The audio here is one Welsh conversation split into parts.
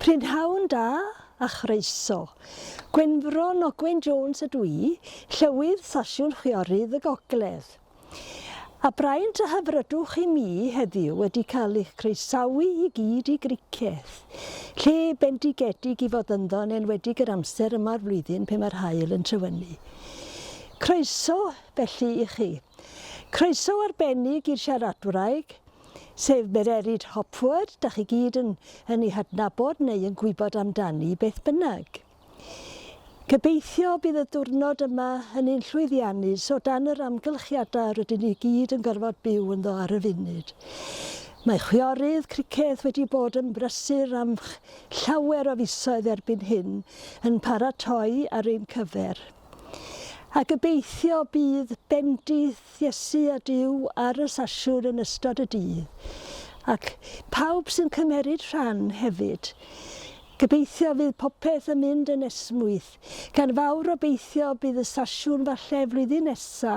Prynhawn da a chroeso. Gwenfro Nogwen Jones ydw i, Llywydd Sasiwn Chwiorydd y Gogledd. A braint a hyfrydwch i mi heddiw wedi cael eich croesawu i gyd i Griceth, lle bendigedig i fod ynddo yn enwedig yr amser yma o'r flwyddyn pe mae'r haul yn trywynnu. Croeso felly i chi. Croeso arbennig i'r siaradwraig, sef Mererid Hopwood, dach chi gyd yn yn ei hadnabod neu yn gwybod amdani beth bynnag. Gobeithio bydd y diwrnod yma yn un llwyddiannus o dan yr amgylchiadau rydyn ni gyd yn gorfod byw ynddo ar y funud. Mae chwiorydd criced wedi bod yn brysur am llawer o fisoedd erbyn hyn yn paratoi ar ein cyfer. A gobeithio bydd bendith Iesu a Duw ar y sesiwn yn ystod y dydd. Ac pawb sy'n cymeryd rhan hefyd. Gobeithio fydd popeth yn mynd yn esmwyth, gan fawr obeithio bydd y sesiwn falle flwyddyn nesa.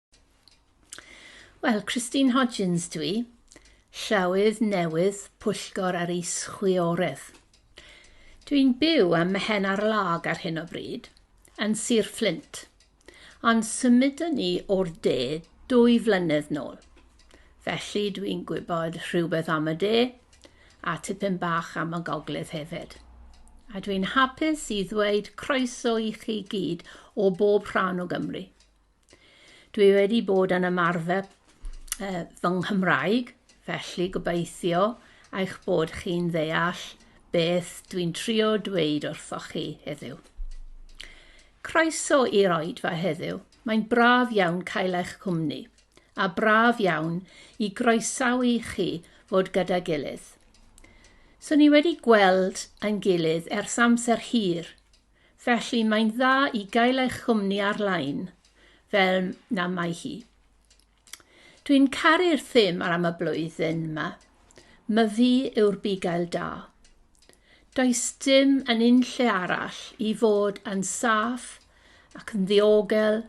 Wel, Christine Hodgins dw i, Llywydd newydd Pwyllgor yr Is-chwiorydd. Dw i'n byw ym Mhen ar Lag ar hyn o bryd, yn Sir Fflint, ond symudon ni o'r de dwy flynedd nôl. Felly dw i'n gwybod rhywbeth am y de, a tipyn bach am y gogledd hefyd. A dw i'n hapus i ddweud croeso i chi gyd o bob rhan o Gymru. Dwi wedi bod yn ymarfer uh, fy Nghymraeg, felly gobeithio eich bod chi'n ddeall beth dwi'n trio dweud wrthoch chi heddiw. Croeso i'r oedfa heddiw. Mae'n braf iawn cael eich cwmni, a braf iawn i groesawu chi fod gyda gilydd. So ni wedi gweld yn gilydd ers amser hir, Felly mae'n dda i gael eich chwmni ar-lein, fel na mae hi. Dwi'n caru'r thim ar am y blwyddyn yma. Myfi yw'r bugail da. Does dim yn unlle arall i fod yn saff ac yn ddiogel,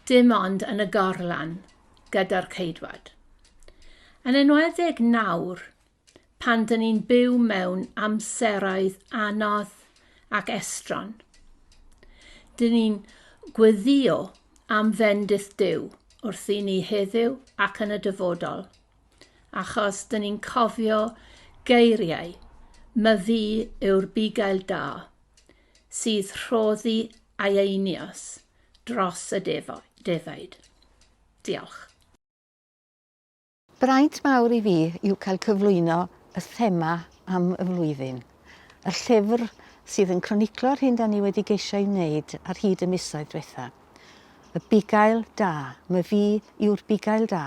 dim ond yn y gorlan gyda'r ceidwad. Yn enwedig nawr, pan dyn ni'n byw mewn amseroedd anodd ac estron. Dyn ni'n gweddio am fendith Duw wrth i ni heddiw ac yn y dyfodol, achos dyn ni'n cofio geiriau myfi yw'r bugail da sydd rhoddi aeinios dros y defaid. Diolch. Braint mawr i fi yw cael cyflwyno y thema am y flwyddyn, y llyfr sydd yn croniclo'r hyn da ni wedi geisio ei wneud ar hyd y misoedd diwetha'. Y Bugail Da, my fi yw'r Bugail Da,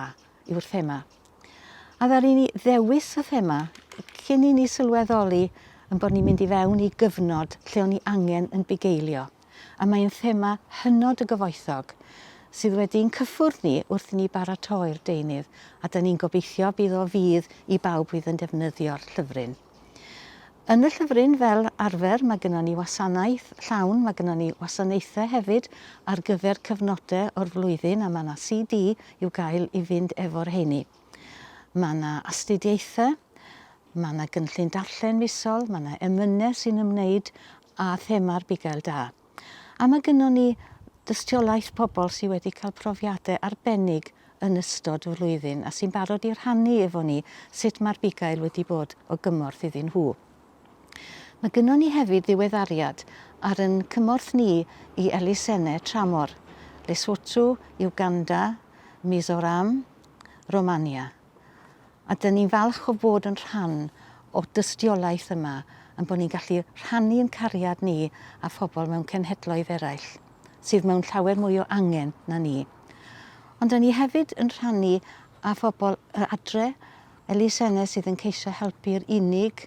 yw'r thema. A ddaru ni ddewis y thema cyn i ni sylweddoli ein bod ni'n mynd i fewn i gyfnod lle o'n ni angen yn bugeilio. a mae'n thema hynod o gyfoethog sydd wedi i'n cyffwrdd ni wrth i ni baratoi'r deunydd a da ni'n gobeithio bydd o fydd i bawb fydd yn defnyddio'r llyfryn. Yn y llyfryn fel arfer mae gyda ni wasanaeth llawn, mae gyda ni wasanaethau hefyd ar gyfer cyfnodau o'r flwyddyn a mae yna CD i'w gael i fynd efo'r heini. Mae yna astudiaethau, Mae 'na gynllun darllen misol, mae 'na emynau sy'n ymwneud â thema'r bugail da. A mae gynnon ni dystiolaeth pobl sydd wedi cael profiadau arbennig yn ystod y flwyddyn a sy'n barod i rhannu efo ni sut mae'r bugail wedi bod o gymorth iddyn nhw. Mae gynnon ni hefyd ddiweddariad ar yn cymorth ni i elusennau tramor, Lesotho, Uganda, Mizoram, Romania. A dyn ni'n falch o fod yn rhan o'r dystiolaeth yma, ein bod ni'n gallu rhannu ein cariad ni â phobl mewn cenhedloedd eraill, sydd mewn llawer mwy o angen na ni. Ond dyn ni hefyd yn rhannu â phobl yr adre, elusenne sydd yn ceisio helpu'r unig,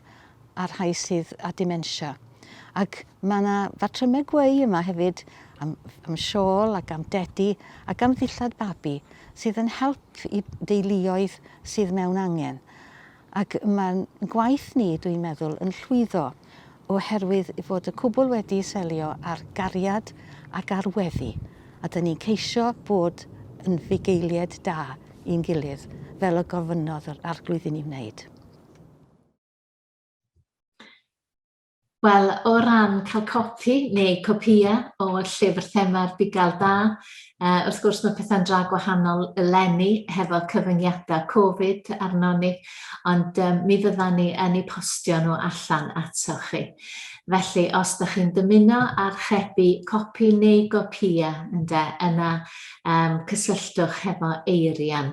a'r rhai sydd â dementia. Ac mae yna fatrymau gweu yma hefyd am, am siôl ac am dedi ac am ddillad babi sydd yn help i deuluoedd sydd mewn angen. Ac mae'n gwaith ni, dwi'n meddwl, yn llwyddo oherwydd fod y cwbl wedi selio ar gariad ac ar weddi. A dyn ni'n ceisio bod yn fugeiliaid da i'n gilydd, fel y gofynnodd yr arglwydd i ni wneud. Wel, o ran cael copi neu copïau o llyfr thema'r Bugail Da, uh, wrth gwrs mae pethau'n dra gwahanol eleni hefo cyfyngiadau Covid arno ni, ond um, mi fyddan ni yn ei postio nhw allan ato chi. Felly, os da chi'n dymuno archebu copi neu gopïau, ynde, yna um, cysylltwch hefo Eirian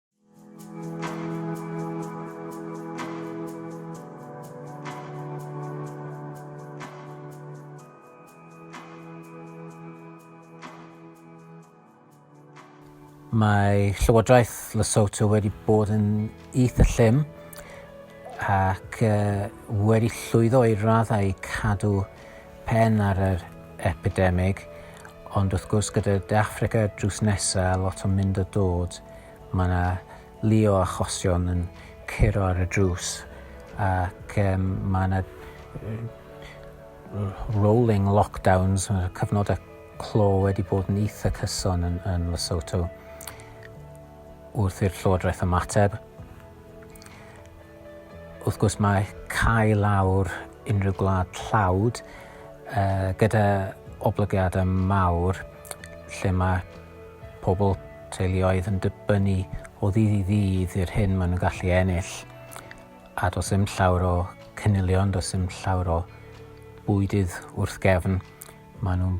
Mae Llywodraeth Lesotho wedi bod yn eitha llym ac uh, wedi llwyddo i raddau cadw pen ar yr epidemig, Ond wrth gwrs gyda De Affrica drws nesa a lot o mynd a dod ma' 'na lu o achosion yn curo ar y drws ac yym ma' 'na r- rolling lockdowns ma' 'na cyfnoda clo wedi bod yn itha cyson yn yn Lesotho wrth i'r llywodraeth ymateb. Wrth gwrs mae cau lawr unrhyw gwlad tlawd uh, gyda oblygiadau mawr lle mae pobl teuluoedd yn dibynnu o ddydd i ddydd i'r hyn maen nhw'n gallu ennill. A does dim llawr o cynilion, does dim llawr o bwydydd wrth gefn. Maen nhw'n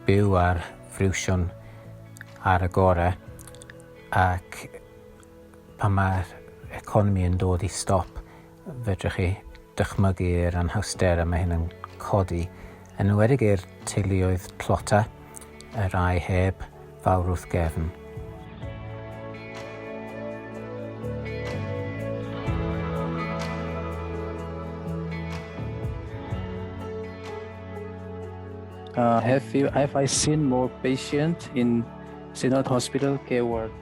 byw ar friwsion ar y gorau ac pan mae'r economi yn dod i stop, fedrwch chi dychmygu yr anhawster y mae hyn yn codi, yn enwedig i'r teuluoedd tlota, y rai heb fawr wrth gefn. Uh, have you have I seen more patient in Synod Hospital care ward?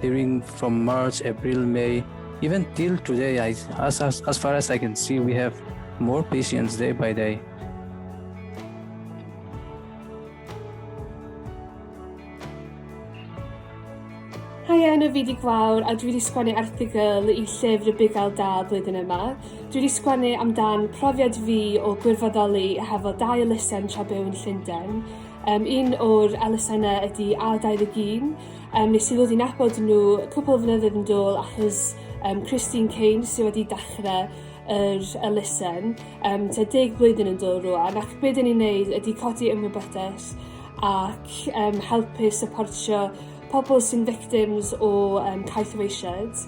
during from March, April, May, even till today, I, as, as, as far as I can see, we have more patients day by day. Hi, Anna Fidig Fawr, a dwi wedi sgwennu erthigol i llyfr y Bugail Da blwyddyn yma. Dwi wedi sgwennu amdan profiad fi o gwirfoddoli hefo dau elusen tra byw yn Llundain. Um, un o'r elusennau ydy A21, Um, nes i ddod i'n abod nhw cwpl o flynyddoedd yn dôl achos um, Christine Kane sydd wedi dechrau yr elusen, um, te deg blwyddyn yn dôl rwan, ac beth dyn ni'n neud ydy codi ymwybyddaeth ac um, helpu supportio pobl sy'n victims o um, caethweisiad.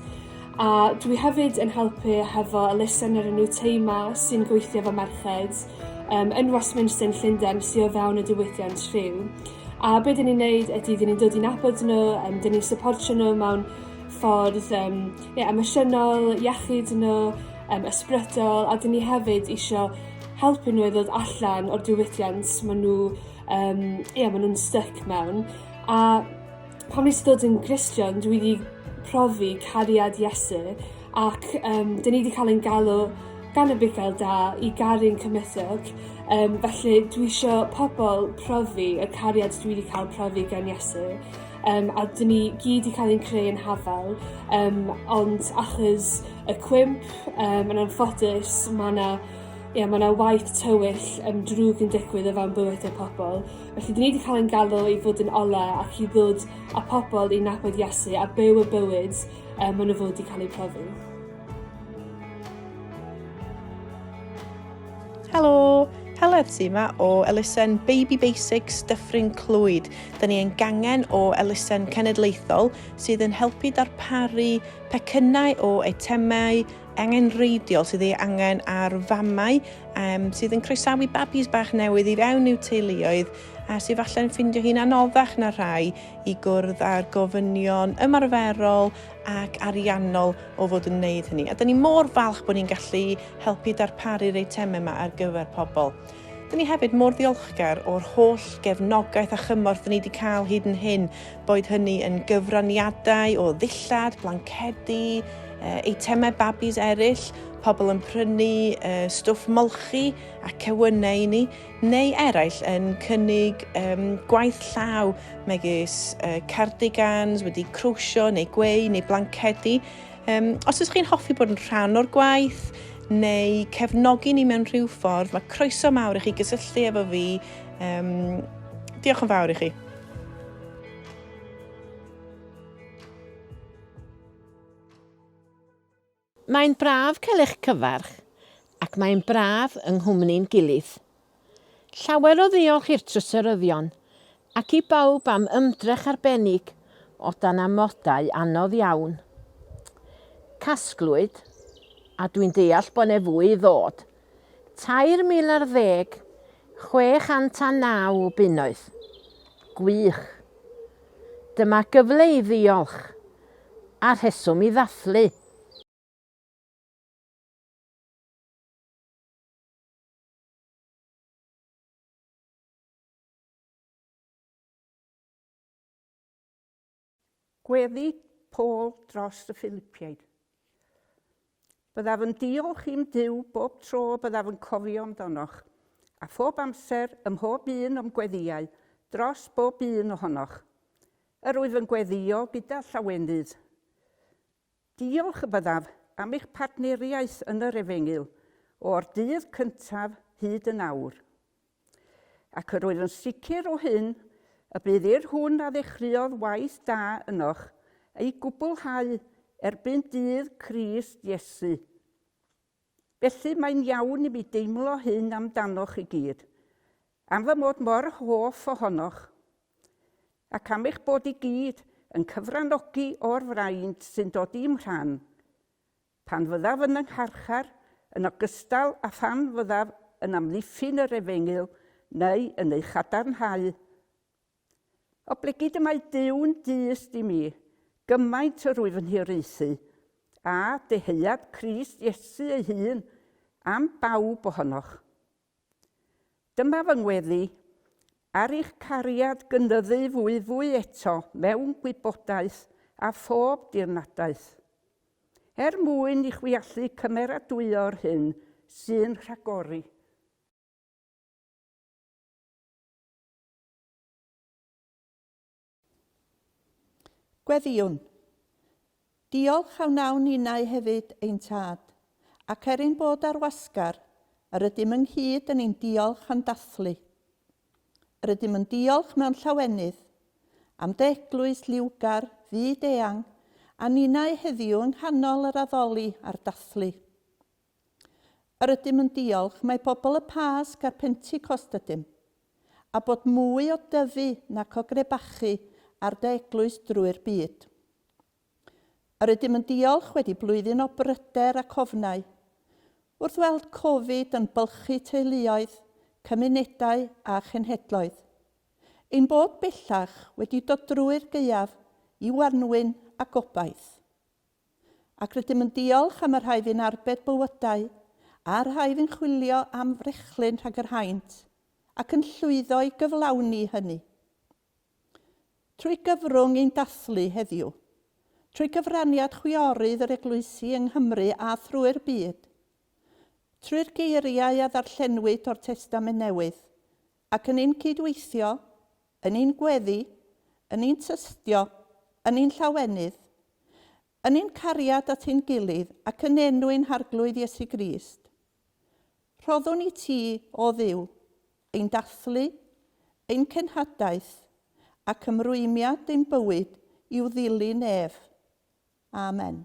A dwi hefyd yn helpu hefo elusen yr enw Teima sy'n gweithio fo merched um, yn Westminster yn Llundain sy'n o fewn y diwydiant rhyw. A be dyn ni'n neud ydy dyn ni'n dod i nabod nhw, yym dyn ni'n syportio nhw mewn ffordd yym ie emosiynol, iechyd nhw, yym ysbrydol a dyn ni hefyd isio helpu nhw i ddod allan o'r diwydiant ma' nhw yym ie ma' nhw'n styc mewn a Pan nes dod yn Gristion dwi 'di profi cariad Iesu ac yym 'dyn ni 'di ca'l ein galw gan y bugail da i garu'n cymysg yym felly dwi isio pobol profi y cariad dwi 'di ca'l profi gan Iesu yym a 'dyn ni gyd 'di ca'l ein creu yn hafal yym ond achos y cwymp yym yn anffodus ma' 'na ie ma' 'na waith tywyll yym drwg yn digwydd o fewn bywyde pobol Felly, dyn ni wedi cael ein galw i fod yn ola ac i ddod â pobl i nabod Iesu a byw y bywyd um, maen nhw fod wedi cael eu profi. Helo, Heledd ti yma o elusen Baby Basics Dyffryn Clwyd. Dyna ni yn gangen o elusen cenedlaethol sydd yn helpu darparu pecynnau o eitemau angenrheidiol sydd ei angen ar famau um, sydd yn croesawu babis bach newydd i fewn i'w teuluoedd a sydd falle'n ffindio hi'n anoddach na rhai i gwrdd â'r gofynion ymarferol ac ariannol o fod yn wneud hynny. A dyn ni mor falch bod ni'n gallu helpu darparu'r eitemau yma ar gyfer pobl. Dyn ni hefyd mor ddiolchgar o'r holl gefnogaeth a chymorth dyn ni wedi cael hyd yn hyn, boed hynny yn gyfraniadau o ddillad, blancedi, eitemau babis eraill, pobl yn prynu stwff molchi a cewynnau i ni, neu eraill yn cynnig gwaith llaw megis cardigans wedi crwsio neu gweu neu blancedi. Um, os ydych chi'n hoffi bod yn rhan o'r gwaith neu cefnogi ni mewn rhyw ffordd, mae croeso mawr i chi gysylltu efo fi. Um, diolch yn fawr i chi. Mae'n braf cael eich cyfarch ac mae'n braf yng nghwmni'n gilydd. Llawer o ddiolch i'r Trysoryddion ac i bawb am ymdrech arbennig o dan amodau anodd iawn. Casglwyd, a dwi'n deall bod 'ne fwy i ddod, 3,000 ar ddeg 609 o bunnoedd. Gwych! Dyma gyfle i ddiolch, a rheswm i ddathlu. Gweddi Paul dros y Philipiaid. Byddaf yn diolch i'm Duw bob tro y byddaf yn cofio amdanoch, a phob amser, ym mhob un o'm gweddïau, dros bob un ohonoch. Yr wyf yn gweddïo gyda llawenydd. Diolch fyddaf am eich partneriaeth yn yr efengyl o'r dydd cyntaf hyd yn awr. Ac yr wyf yn sicr o hyn y bydd i'r hwn a ddechreuodd waith da ynoch ei gwblhau erbyn dydd Crist Iesu. Felly, mae'n iawn i mi deimlo hyn amdanoch i gyd, am fy mod mor hoff ohonoch, ac am eich bod i gyd yn cyfranogi o'r fraint sy'n dod i'm rhan, pan fyddaf yn 'y ngharchar, yn ogystal â phan fyddaf yn amddiffyn yr efengyl neu yn ei chadarnhau. Oblegid y mae Duw'n dyst i mi, gymaint yr wyf yn hiraethu, a dyheuad Crist Iesu ei hun am bawb ohonoch. Dyma fy ngweddi, ar eich cariad gynyddu fwyfwy eto mewn gwybodaeth a phob dirnadaeth, er mwyn i chwi allu cymeradwyo'r hyn sy'n rhagori, Gweddïwn. Diolch a wnawn ninnau hefyd, ein tad, ac er ein bod ar wasgar, yr ydym ynghyd yn ein diolch a'n dathlu. Yr ydym yn diolch mewn llawenydd am dy eglwys liwgar, fyd-eang, a ninnau heddiw yng nghanol yr addoli a'r dathlu. Yr ydym yn diolch, mae pobl y Pasg a'r Pentecost ydym. A bod mwy o dyfu nac o grebachu ar dy eglwys drwy'r byd. Yr ydym yn diolch wedi blwyddyn o bryder ac ofnau. Wrth weld Covid yn bylchu teuluoedd, cymunedau a chenhedloedd. Ein bod bellach wedi dod drwy'r gaeaf i wanwyn a gobaith. ac rydym yn diolch am y rhai fu'n arbed bywydau a'r rhai fu'n chwilio am frechlyn rhag yr haint ac yn llwyddo i gyflawni hynny. Trwy gyfrwng ein dathlu heddiw, trwy gyfraniad chwiorydd yr Eglwysi yng Nghymru a thrwy'r byd, trwy'r geiriau a ddarllenwyd o'r Testament Newydd, ac yn ein cyd-weithio Yn ein gweddi, yn ein tystio, yn ein llawenydd, yn ein cariad at ein gilydd ac yn enw ein Harglwydd Iesu Grist, rhoddwn i Ti, O Dduw, ein dathlu, ein cenhadaeth ac ymrwymiad ein bywyd i'w ddilyn ef. Amen.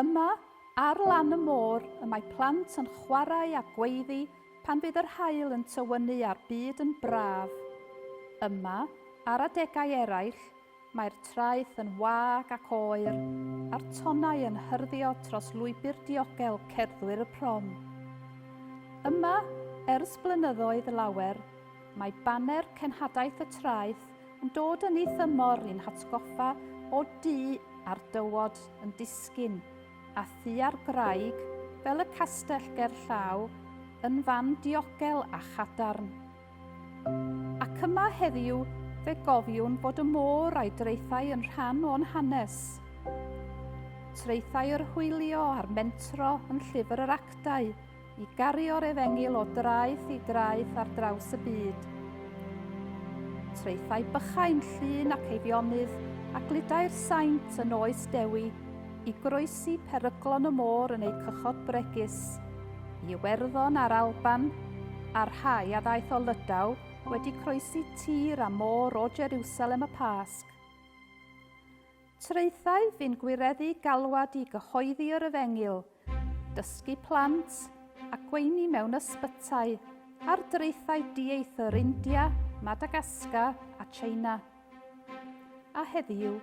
Yma, ar lan y môr, y mae plant yn chwarae a gweiddi pan fydd yr haul yn tywynnu a'r byd yn braf. Yma, ar adegau eraill, mae'r traeth yn wag ac oer, a'r tonnau yn hyrddio tros lwybr diogel cerddwyr y prom. Yma, ers blynyddoedd lawer, Mae baner cenhadaeth y traeth yn dod yn ei thymor i'n hatgoffa o du a'r dywod yn disgyn, a thu a'r graig, fel y castell ger llaw, yn fan diogel a chadarn. Ac yma heddiw, fe gofiwn fod y môr a'i draethau yn rhan o'n hanes. Traethau yr hwylio a'r mentro yn llyfr yr actau, I gario'r efengyl o draeth i draeth ar draws y byd. Traethau bychain llun ac eifionydd a gludau'r saint yn oes dewi i groesi peryglon y môr yn eu cychod bregus, i Iwerddon a'r Alban, a rhai a ddaeth o Lydaw wedi croesi tir a môr o Jerusalem y Pasg. Traethau fi'n gwireddu galwad i gyhoeddi yr efengyl, dysgu plant a gweini mewn ysbytai ar draethau dieithr India, Madagascar a China. A heddiw,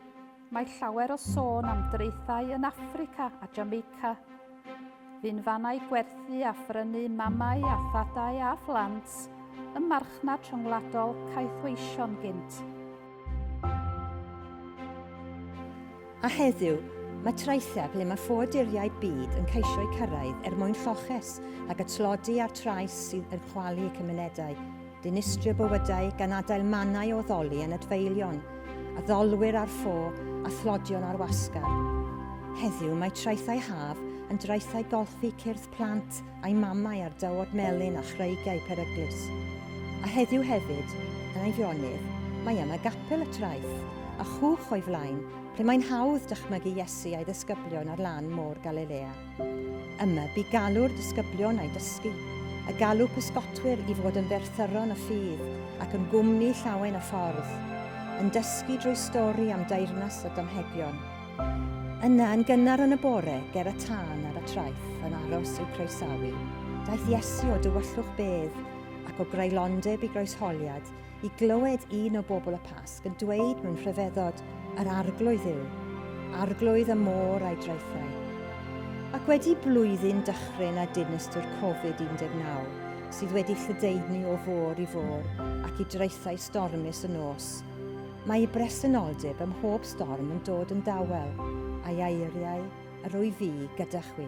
mae llawer o sôn am draethau yn Affrica a Jamaica. Bu'n fannau gwerthu a phrynu mamau a thadau a phlant, y marchnad rhyngwladol caethweision gynt. A heddiw, mae traethau ble mae ffoaduriaid byd yn ceisio'u cyrraedd er mwyn lloches ac y tlodi a'r trais sydd yn chwalu cymunedau. Dinistrio bywydau gan adael mannau o ddoli yn adfeilion, addolwyr ar ffo a thlodion ar wasgar. Heddiw mae traethau haf yn draethau golchi cyrth plant a'i mamau ar dywod melyn a chreigiau peryglus. A heddiw hefyd, yn Eifionydd, mae yma gapel y traeth, a chwch o'i flaen, lle mae'n hawdd dychmygu Iesu a'i ddisgyblion ar lan môr Galilea. Yma, bu galw'r disgyblion a'i dysgu, y galw pysgotwyr i fod yn ddearthyron y ffydd ac yn gwmni llawen y ffordd, yn dysgu drwy stori am deyrnas o damhegion. Yna, yn gynnar yn y bore, ger y tân ar y traeth, yn aros i'w croesawu, daeth Iesu o dywyllwch bedd ac o greulondeb i groesholiad, i glywed un o bobl y Pasg yn dweud mewn rhyfeddod, yr arglwydd yw, arglwydd y môr a'i draethau. Ac wedi blwyddyn dychryn a dinystwr Covid-19, sydd wedi lledaenu o fôr i fôr ac i draethau stormus y nos, mae ei bresenoldeb ym mhob storm yn dod yn dawel, a'i aeriau yr wyf fi gyda chwi.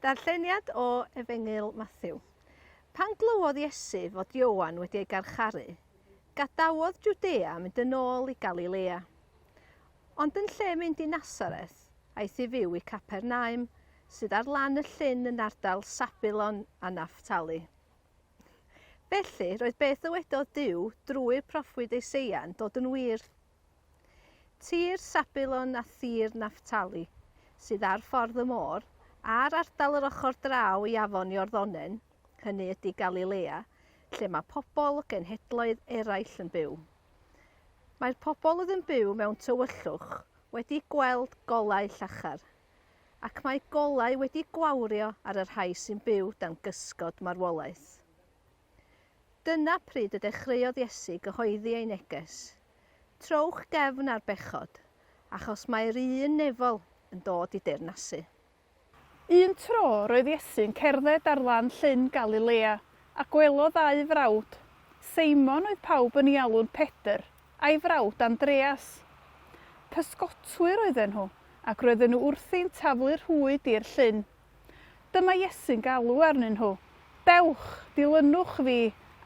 Darlleniad o Efengyl Mathew. Pan glywodd Iesu fod Ioan wedi ei garcharu, gadawodd Jwdea a mynd yn ôl i Galilea. Ond yn lle mynd i Nasareth, aeth i fyw i Capernaum, sydd ar lan y llyn yn ardal Sabulon a Naftali. Felly, roedd beth ddywedodd Duw drwy'r proffwyd Eiseia'n dod yn wir. Tir Sabulon a thir Naftali, sydd ar ffordd y môr, a'r ardal yr ochr draw i afon Iorddonen, hynny ydy Galilea, lle mae pobl o genhedloedd eraill yn byw. Mae'r pobl oedd yn byw mewn tywyllwch wedi gweld golau llachar, ac mae golau wedi gwawrio ar y rhai sy'n byw dan gysgod marwolaeth. Dyna pryd y dechreuodd Iesu gyhoeddi ei neges, Trowch gefn ar bechod, achos mae'r un nefol yn dod i deyrnasu. Un tro roedd Iesu'n cerdded ar lan llyn Galilea, a gwelodd ddau frawd. Seimon oedd pawb yn ei alw'n Pedr, a'i frawd Andreas. Pysgotwyr oedden nhw, ac roedden nhw wrthi'n taflu rhwyd i'r llyn. Dyma Iesu'n galw arnyn nhw, Dewch, dilynwch fi,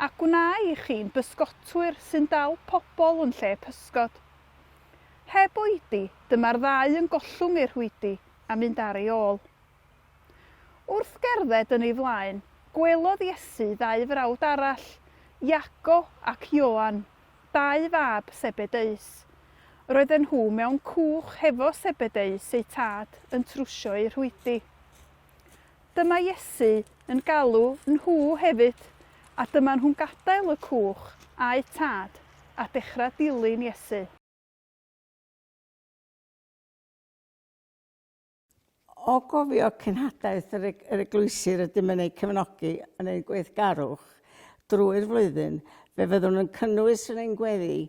a gwna i chi'n bysgotwyr sy'n dal pobl yn lle pysgod. Heb oedi, dyma'r ddau yn gollwng eu rhwydi a mynd ar ei ôl. Wrth gerdded yn ei flaen, gwelodd Iesu ddau frawd arall, Iago ac Ioan, dau fab Sebedeus. Roedden nhw mewn cwch hefo Sebedeus eu tad yn trwsio eu rhwydi. Dyma Iesu yn galw nhw hefyd, a dyma nhw'n gadael y cwch a'u tad a dechrau dilyn Iesu. O gofio cenhadaeth yr, eg, yr eglwysi rydym yn eu cefnogi yn ein gweithgarwch drwy'r flwyddyn, fe fyddwn yn cynnwys yn ein gweddi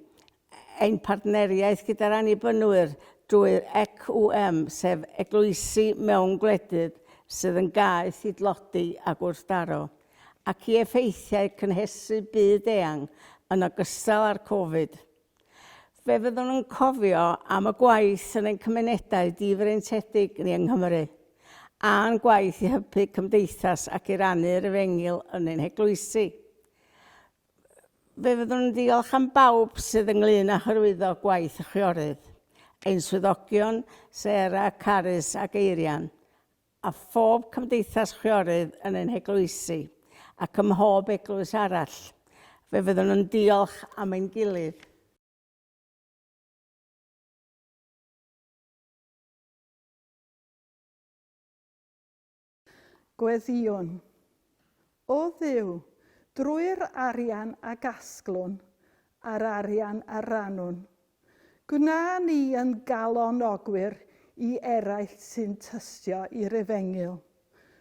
ein partneriaeth gyda'r Annibynwyr drwy'r ECWM, sef eglwysi mewn gwledydd sydd yn gaeth i dlodi a gwrthdaro, ac i effeithiau cynhesu byd-eang yn ogystal â'r Covid. Fe fyddwn yn cofio am y gwaith yn ein cymunedau difreintiedig ni yng Nghymru, a'n gwaith i hybu cymdeithas ac i rannu'r efengyl yn ein heglwysi. Fe fyddwn yn ddiolch am bawb sydd ynglŷn â hyrwyddo gwaith y chwiorydd, ein swyddogion, Sarah, Carys ac Eirian, a phob cymdeithas chwiorydd yn ein heglwysi, ac ym mhob eglwys arall, fe fyddwn yn diolch am ein gilydd. Gweddïwn. O Dduw, drwy'r arian a gasglwn, a'r arian a rannwn. Gwna ni yn galonogwyr i eraill sy'n tystio i'r efengyl,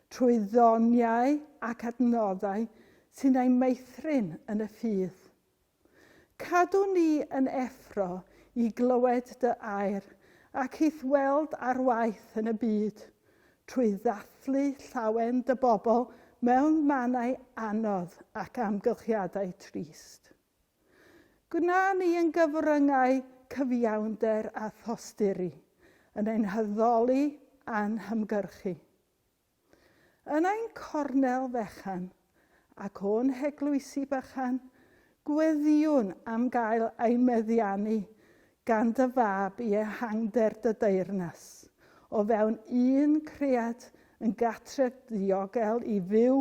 trwy ddoniau ac adnoddau sy'n eu meithrin yn y ffydd. Cadw ni yn effro i glywed dy air ac i'th weld ar waith yn y byd, trwy ddathlu llawen dy bobl mewn mannau anodd ac amgylchiadau trist. Gwna ni yn gyfryngau cyfiawnder a thosturi, yn ein haddoli a'n hymgyrchu. Yn ein cornel fechan, ac o'n heglwysi bychan, gweddïwn am gael ein meddiannu gan dy Fab i ehangder dy deyrnas, o fewn un cread yn gatref ddiogel i fyw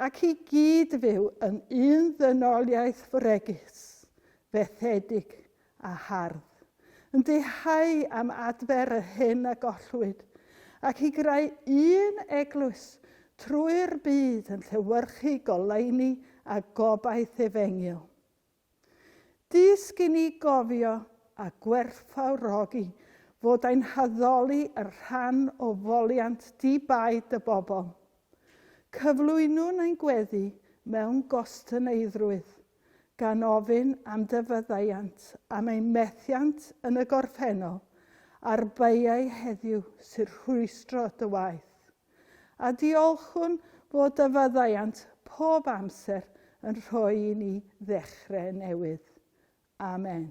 ac i gyd-fyw yn un ddynoliaeth fregus, fethedig a hardd, yn dihau am adfer yr hyn a gollwyd, ac i greu un eglwys trwy'r byd yn llewyrchu goleuni a gobaith efengyl. Dysg i ni gofio a gwerthfawrogi fod ein haddoli yn rhan o foliant di-baid y bobl. Cyflwynwn ein gweddi mewn gostyneidrwydd. gan ofyn am dy faddeuant am ein methiant yn y gorffennol a'r beiau heddiw sy'n rhwystro dy waith. A diolchwn fod dy faddeuant pob amser yn rhoi i ni ddechrau newydd. Amen.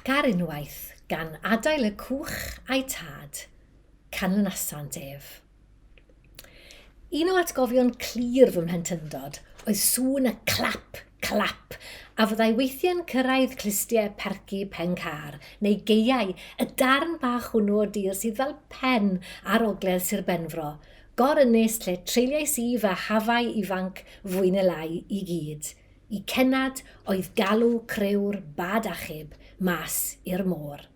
Ac ar unwaith, gan adael y cwch a'i tad, canlynasant ef. Un o atgofion clir fy mhlentyndod oedd sŵn y clap, clap, a fyddai weithiau'n cyrraedd clustiau perci pen car, neu gaeau, y darn bach hwnnw o dir sydd fel pen ar ogledd Sir Benfro, gor-ynys lle treuliais i fy hafau ifanc fwy neu lai i gyd, Y cennad oedd galw criw'r bad achub mas i'r môr.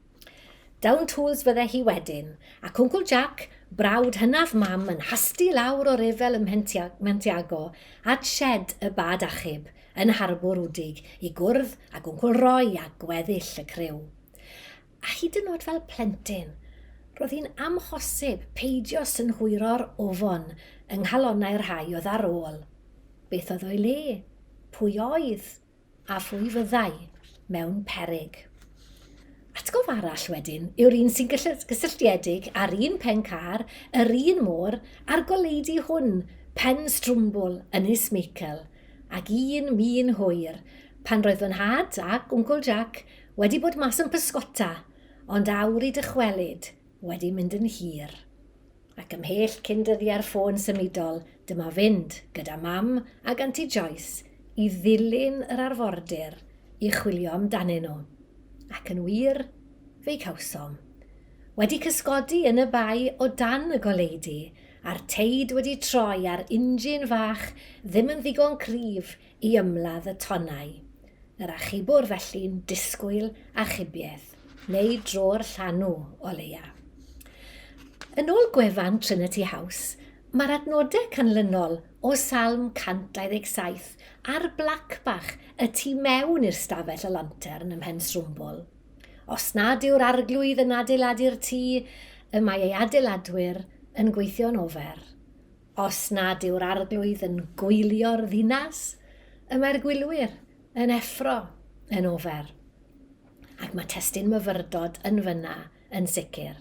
Down tools fydde hi wedyn, ac Wncwl Jac, brawd hynaf Mam, yn hasti lawr o ryfel ym Mhentiago at sied y bad achub yn Harbwr Wdig i gwrdd ag Wncwl Roy a gweddill y criw. a hyd yn oed fel plentyn, roedd hi'n amhosib peidio synhwyro'r ofon yng nghalonnau'r rhai oedd ar ôl. Beth oedd o'i le? Pwy oedd? A phwy fyddai mewn peryg? Atgof arall wedyn yw'r un sy'n gysylltiedig â'r un pen car, yr un môr a'r goleudy hwn, pen strwmbwl Ynys Meicel, ac un min hwyr, pan roedd fy nhad ac Wncwl Jac Wedi bod mas yn pysgota, ond awr i dychwelyd wedi mynd yn hir. Ac ymhell cyn dyddiau'r ffôn symudol, dyma fynd, gyda Mam ag Anti Joyce, i ddilyn yr arfordir i chwilio amdanyn nhw. Ac yn wir, fe'i cawsom. Wedi cysgodi yn y bae o dan y goleudy, a'r teid wedi troi a'r injin fach ddim yn ddigon cryf i ymladd y tonnau. Yr achubwr felly'n disgwyl achubiaeth, neu dro'r llanw, o leia. Yn ôl gwefan Trinity House, mae'r adnodau canlynol o Salm 127 ar blac bach y tu mewn i'r stafell y lantern ym Mhensrwmbwl, Os nad yw'r Arglwydd yn adeiladu'r tŷ, y mae ei adeiladwyr yn gweithio'n ofer. Os nad yw'r Arglwydd yn gwylio'r ddinas, y mae'r gwylwyr yn effro yn ofer. Ac mae testun myfyrdod yn fyna yn sicr.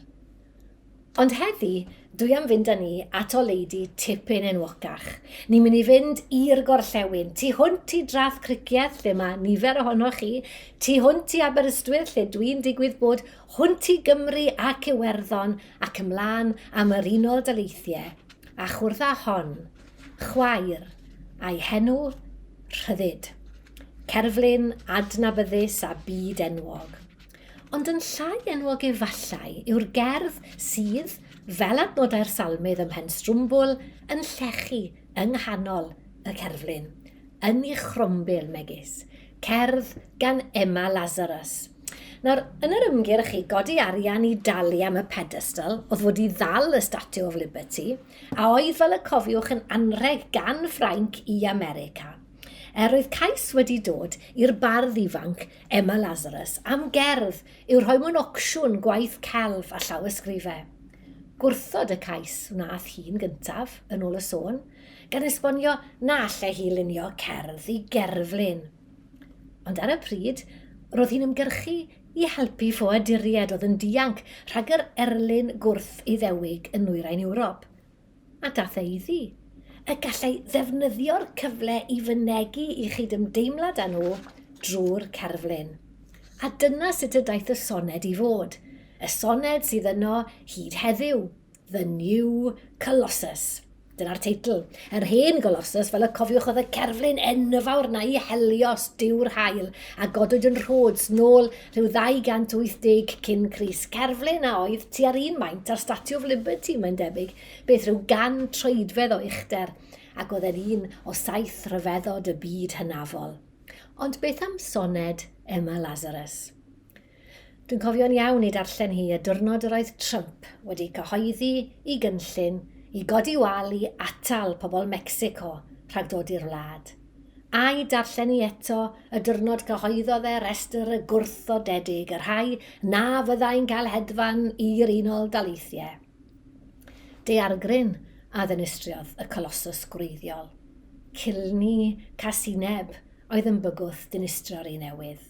Ond heddi, dwi am fynd â ni at oleidi tipyn enwocach. Ni'n mynd i fynd i'r gorllewin, tu hwnt i Drath Cricieth, lle mae nifer ohonoch chi, tu hwnt i Aberystwyth, lle dwi'n digwydd bod, hwnt i Gymru ac Iwerddon, ac ymlaen am yr Unol Daleithiau, a chwrdd â hon, chwaer, a'i henw, Rhyddid. Cerflun adnabyddus a byd-enwog. Ond yn llai enwog efallai yw'r gerdd sydd, fel adnodau'r salmydd ym Mhenstrwmbwl, yn llechu yng nghanol y cerflun, yn ei chrombil megis, cerdd gan Emma Lazarus. Nawr, yn yr ymgyrch i godi arian i dalu am y pedestal oedd wedi ddal y Statue of Liberty, a oedd fel y cofiwch yn anrheg gan Ffrainc i America, er oedd cais wedi dod i'r bardd ifanc Emma Lazarus am gerdd i'w rhoi mewn ocsiwn gwaith celf a llawysgrifau. Gwrthod y cais wnaeth hi'n gyntaf, yn ôl y sôn, gan esbonio na allai hi lunio cerdd i gerflun. Ond ar y pryd, roedd hi'n ymgyrchu i helpu ffoaduriaid oedd yn dianc rhag yr erlyn gwrth-Iddewig yn nwyrain Ewrop, a daeth e iddi. Y gallai ddefnyddio'r cyfle i fynegi i chydymdeimlad â nhw drwy'r cerflun. A dyna sut y daeth y soned i fod, y soned sydd yno hyd heddiw, The New Colossus. Dyna'r teitl. Yr hen Golossus, fel y cofiwch oedd y cerflun enfawr na i Helios, diw'r hael, a godwyd yn Rhodes nôl rhyw 280 cyn Cris. Cerflun a oedd tua'r un maint ar Statue of Liberty, mae'n debyg, beth rhyw gan troedfedd o uchder, ac oedd e'n un o saith rhyfeddod y byd hynafol. Ond beth am soned Emma Lazarus? Dwi'n cofio'n iawn ei darllen hi y diwrnod yr oedd Trump wedi cyhoeddi i gynllun i godi wal i atal pobl Mecsico rhag dod i'r wlad, a'i darllen hi eto y diwrnod cyhoeddodd e restr y gwrthodedig, y rhai na fyddai'n cael hedfan i'r Unol Daleithiau. Daeargryn a ddinistriodd y colosws gwreiddiol. Cilni casineb oedd yn bygwth dinistrio'r un newydd.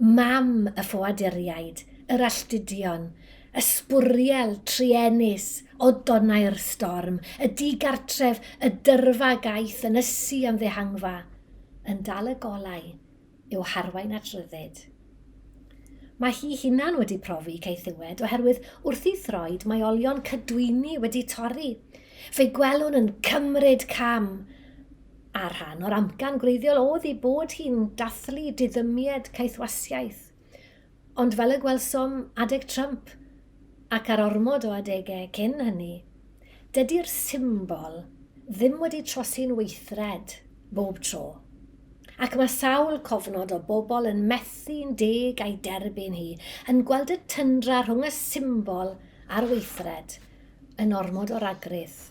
Mam y ffoaduriaid, yr alltudion, y sbwriel, truenus, o donnau'r storm, y digartref, y dyrfa gaeth yn ysu am ddehangfa, yn dal y golau i'w harwain at ryddid. Mae hi hunan wedi profi caethiwed oherwydd wrth i throed mae olion cydwyni wedi torri. Fe'i gwelwn yn cymryd cam A rhan o'r amcan gwreiddiol oedd ei bod hi'n dathlu diddymied caethwasiaeth. Ond fel y gwelsom adeg Trump, ac ar ormod o adegau cyn hynny, dydi'r symbol ddim wedi trosi'n weithred bob tro. Ac mae sawl cofnod o bobl yn methu'n deg a'i derbyn hi, yn gweld y tyndra rhwng y symbol a'r weithred yn ormod o ragrith.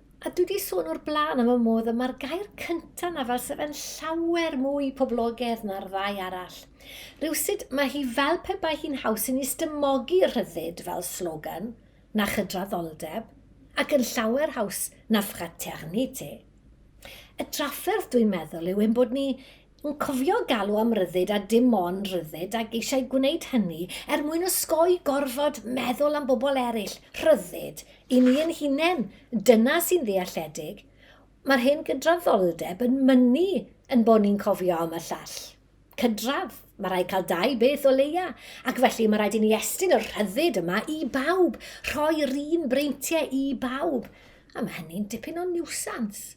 A dwi 'di sôn o'r blaen am y modd y mae'r gair cyntaf 'na fel se fe'n llawer mwy poblogedd na'r ddau arall. Rywsut mae hi fel pe bai hi'n haws i ni stymogi rhyddid fel slogan na chydraddoldeb, ac yn llawer haws na fraternité. Y drafferth dwi'n meddwl yw ein bod ni Yn cofio galw am ryddid a dim ond rhyddid ac eisiau gwneud hynny er mwyn osgoi gorfod meddwl am bobl eraill, rhyddid i ni ein hunain, dyna sy'n ddealledig. Mae'r hen gydraddoldeb yn mynnu yn bod ni'n cofio am y llall. Cydradd, mae rhaid cael dau beth o leia, ac felly mae rhaid i ni estyn y rhyddid yma i bawb, rhoi'r un breintiau i bawb, a mae hynny'n dipyn o niwsans.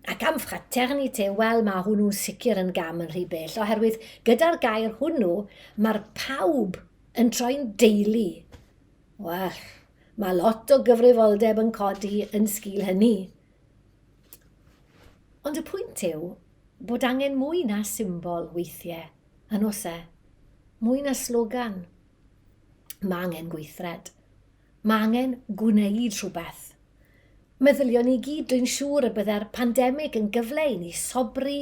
Ac am fraternité, wel, mae hwnnw'n sicr yn gam yn rhy bell, oherwydd gyda'r gair hwnnw, mae'r pawb yn troi'n deulu. Wel, mae lot o gyfrifoldeb yn codi yn sgil hynny. Ond y pwynt yw bod angen mwy na symbol weithiau, yn os e? Mwy na slogan. Mae angen gweithred. Mae angen gwneud rhywbeth. Meddyliwn i gyd, dwi'n siŵr y byddai'r pandemig yn gyfle i ni sobri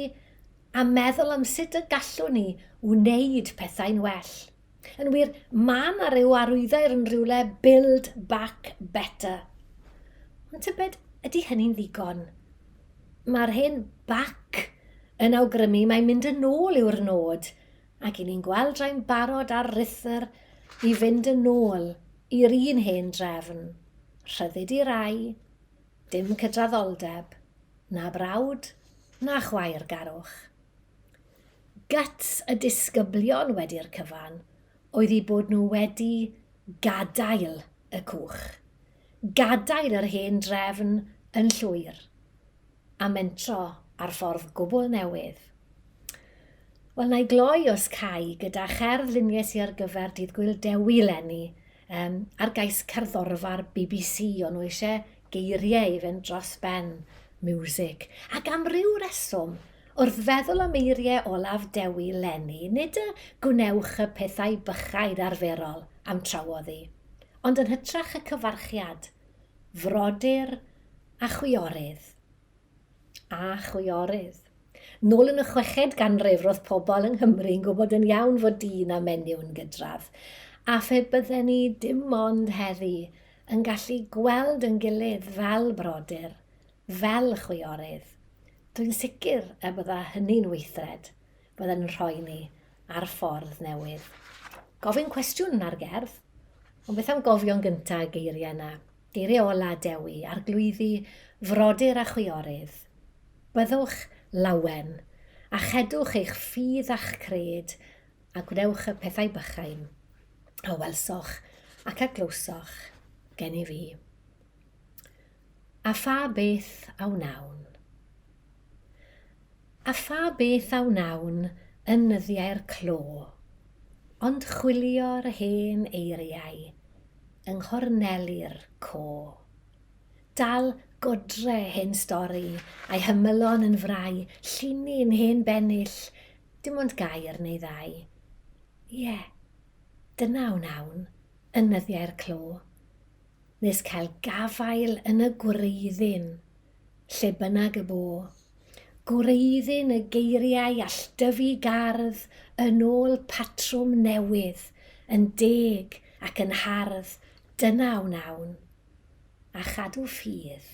a meddwl am sut y gallwn ni wneud pethau'n well. Yn wir, mae yna ryw arwyddair yn rhywle build back better. Ond tybed, ydy hynny'n ddigon? Mae'r hen back yn awgrymu mae mynd yn ôl yw'r nod, ac i ni'n gweld rhai'n barod ar rythr i fynd yn ôl i'r un hen drefn, rhyddid i rai, dim cydraddoldeb, na brawd, na chwaer garwch. Guts y disgyblion wedi'r cyfan oedd eu bod nhw wedi gadael y cwch, gadael yr hen drefn yn llwyr a mentro ar ffordd gwbl newydd. Wel, na i gloi os cai gyda cherdd lunies i ar gyfer Dydd Gwyl Dewi lenni, um, ar gais cerddorfa'r BBC, o'n nhw eisiau geiriau i fynd dros ben, music, ac am ryw reswm, wrth feddwl am eiriau olaf Dewi lenni, nid y gwnewch y pethau bychain arferol am trawodd i, Ond yn hytrach y cyfarchiad, frodyr a chwiorydd. A chwiorydd. Nôl yn y chweched ganrif roedd pobl yng Nghymru yn gwybod yn iawn fod dyn a menyw yn gydradd, a phe bydden ni dim ond heddi yn gallu gweld yn gilydd fel brodyr, fel chwiorydd, dwi'n sicr y bydda hynny'n weithred. bydden yn rhoi ni ar ffordd newydd. Gofyn cwestiwn ar gerdd, ond beth am gofio'n gynta y geiriau yna, geiriau ola Dewi, arglwyddi, frodyr a chwiorydd. Byddwch lawen, a chedwch eich ffydd a'ch cred, a gwnewch y pethau bychain, a welsoch ac a glywsoch gen i fi. A pha beth a wnawn? A pha beth a wnawn yn nyddiau'r clo, ond chwilio'r hen eiriau yng nghorneli'r co. Dal godre hen stori a'i hymylon yn frai, llinyn hen bennill, dim ond gair neu ddau. Ie, dyna a wnawn yn nyddiau'r clo. nes cael gafael yn y gwreiddyn, lle bynnag y bo. Gwreiddyn y geiriau alldyfu gardd yn ôl patrwm newydd, yn deg ac yn hardd, dyna wnawn. A chadw ffydd.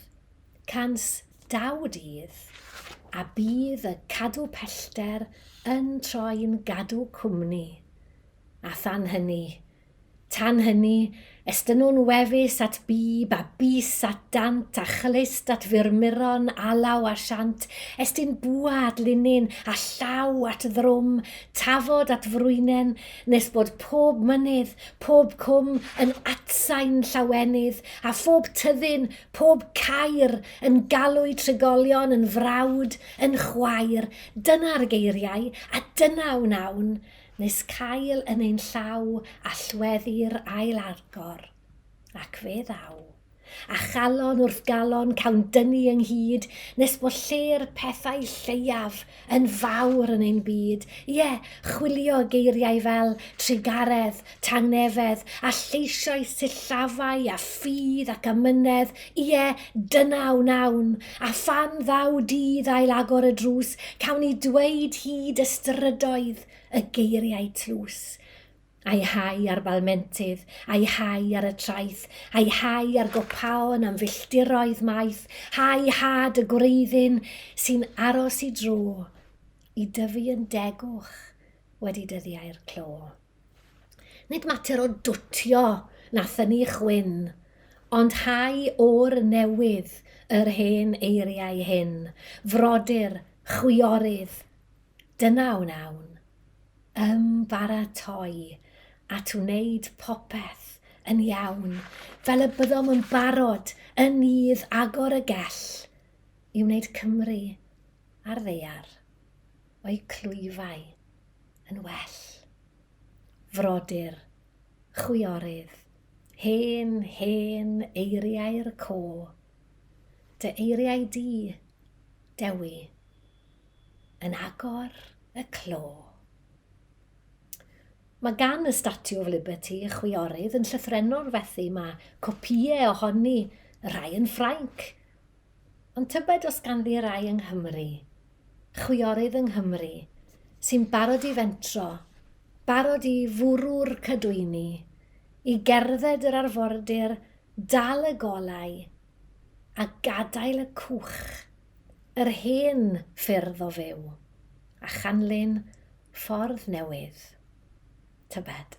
Cans daw dydd, a bydd y cadw pellter yn troi'n gadw cwmni. A than hynny, Tan hynny, estynnwn wefus at bib a bys at dant a chlyst at fyrmuron, alaw a siant, estyn bwa at linyn, a llaw at ddrwm, tafod at frwynen, nes bod pob mynydd, pob cwm yn atsain llawenydd, a phob tyddyn, pob caer, yn galw'u trigolion yn frawd, yn chwaer, dyna'r geiriau, a dyna wnawn, nes cael yn ein llaw allweddi'r ail agor, ac fe ddaw, a chalon wrth galon cawn dyngu ynghyd, nes bod lle'r pethau lleiaf yn fawr yn ein byd, ie, chwilio geiriau fel trugaredd, tangnefedd, a lleisiau sillafau a ffydd ac amynedd, Ie, dyna wnawn, a phan ddaw dydd ail agor y drws, cawn ni dweud hyd y strydoedd y geiriau tlws. A'i hau ar balmentydd, a'i hau ar y traeth, a'i hau ar gopaon am filltiroedd maith, hau had y gwreiddyn sy'n aros i dro, i dyfu yn degwch wedi dyddiau'r clo. Nid mater o dwtio na thynnu chwyn, ond hau o'r newydd yr hen eiriau hyn, frodyr, chwiorydd, dyna wnawn, ymbaratoi at wneud popeth yn iawn, fel y byddom yn barod yn nydd agor y gell i wneud Cymru a'r ddaear o'u clwyfau. yn well. Frodyr, chwiorydd, hen, hen eiriau'r co, dy eiriau di, Dewi, yn agor y clo. Mae gan y Statue of Liberty y chwiorydd yn llythrenor fethu, mae copïau ohoni, y rhai yn Ffrainc, Ond tybed os ganddi rai yng Nghymru, chwiorydd yng Nghymru, sy'n barod i fentro, barod i fwrw'r cadwyni, i gerdded yr arfordir, dal y golau, a gadael y cwch, yr hen ffyrdd o fyw, a chanlyn ffordd newydd? Tybed.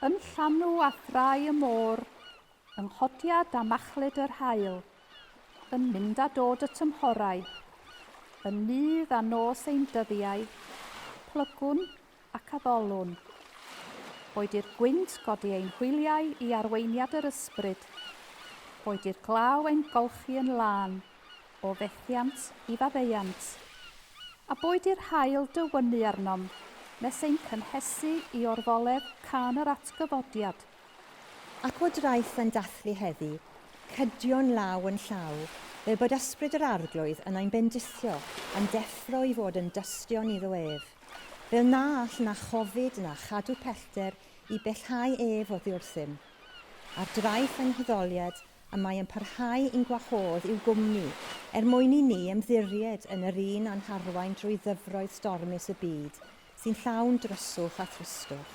Yn llanw a thrai y môr, yng nghodiad a machlud yr haul, yn mynd a dod y tymhorau, yn nydd a nos ein dyddiau, plygwn ac addolwn. Boed i'r gwynt godi ein hwyliau i arweiniad yr ysbryd, boed i'r glaw ein golchi yn lân o fethiant i faddeuant, a boed i'r haul dywynnu arnom nes ein cynhesu i orfoledd cân yr atgyfodiad. Ac o draeth yn dathlu heddi, cydion law yn llaw, fel bod ysbryd yr Arglwydd yn ein bendithio, a'n deffro i fod yn dystion iddo ef. Fel na all na chofid na chadw pellter i bellhau ef oddi wrthym. Ar draeth fy nghudoliad y mae yn parhau i'n gwahodd i'w gwmni er mwyn i ni ymddiried yn yr un a'n harwain drwy ddyfroedd stormus y byd sy'n llawn dryswch a thristwch.